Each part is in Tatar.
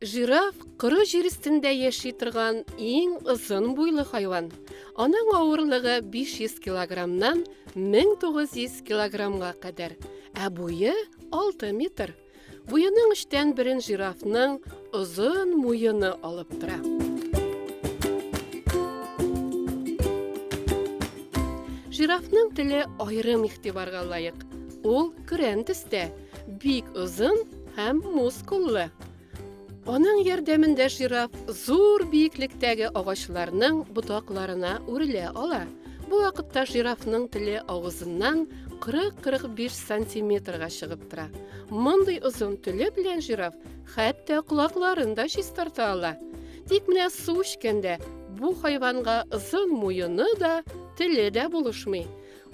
Жираф коры җир өстендә яши торган иң озын буйлы хайван. Аның авырлыгы 500 килограммнан 1900 килограммга кадәр, ә буе 6 метр. Буеның эчтән берен жирафның озын муены алып тора. Жирафның теле аерым игътибарга лаек. Ул көрән төстә, бик озын һәм мускуллы. Аның ярдәмендә жираф зур биеклектәге агачларның ботакларына үрелә ала. Бу вакытта жирафның теле авызыннан 40-45 сантиметрга чыгып тора. Мондый озын теле белән жираф хәтта колакларын да чистарта ала. Тик менә су эчкәндә бу хайванга озын муены да, теле дә булышмый.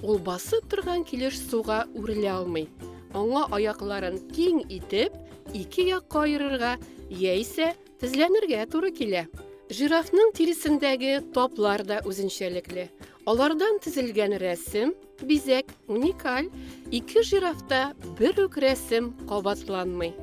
Ул басып торган килеш суга үрелә алмый. Аңа аякларын киң итеп, ике якка аерырга яисә тезләнергә туры килә. Жирафның тиресендәге таплар да үзенчәлекле. Алардан тезелгән рәсем, бизәк, уникаль. Ике жирафта бер үк рәсем кабатланмый.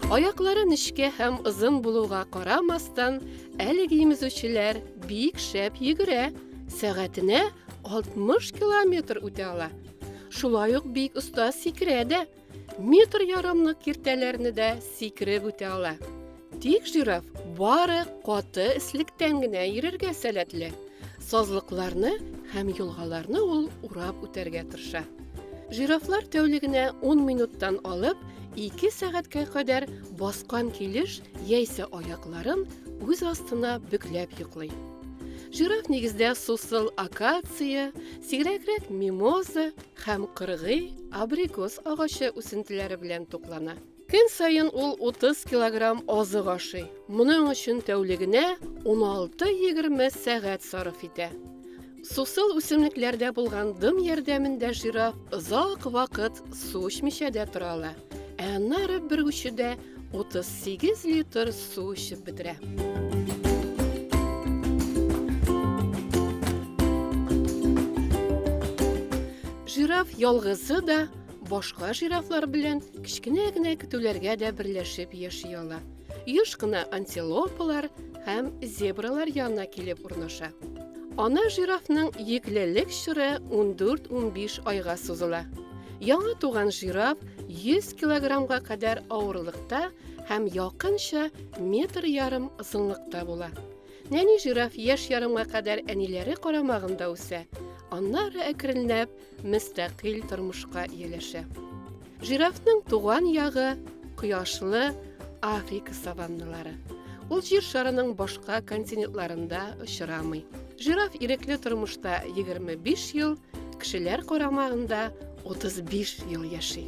Аяклары нечкә һәм озын булуга карамастан, әлеге имезүчеләр бик шәп йөгерә, сәгатенә 60 километр үтә ала. Шулай ук бик оста сикерә дә. Метр ярымлык киртәләрне дә сикереп үтә ала. Тик жираф бары каты эслектән генә йөрергә сәләтле. Сазлыкларны һәм елгаларны ул урап үтәргә тырыша. Жирафлар тәүлегенә 10 минуттан алып 2 сәгатькә кадәр баскан килеш яисә аякларын үз астына бөкләп йоклый. Жираф нигездә сусыл акация, сигрәгрәк мимоза, Һәм кыргый абрикос агачы үсентеләре белән туклана. Көн саен ул 30 килограмм азык ашый. Моның өчен тәүлегенә 16-20 сәгать сарыф итә. Сусыл үсемлекләрдә булган дым ярдәмендә жираф озак вакыт су эчмичә дә тора ала. Ә аннары бер күчүдә 38 литр су эчеп бетерә. Жираф ялгызы да башка жирафлар белән кечкенә генә көтүләргә дә берләшеп яши ала. Юш кына антилопалар һәм зебралар янына килеп урнаша. Ана жирафның йөклелек чоры 14-15 айга сузыла. Яңа туган жираф 100 килограммга кадәр авырлыкта һәм якынча метр ярым озынлыкта була. Нәни жираф яшь ярымга кадәр әниләре карамагында үсә, аннары әкренләп мөстәкыйль тормышка ияләшә. Жирафның туган ягы кояшлы Африка саванналары. Ул җир шарының башка континентларында очрамый. Жираф ирекле тормышта 25 ел, кешеләр карамагында 35 ел яши.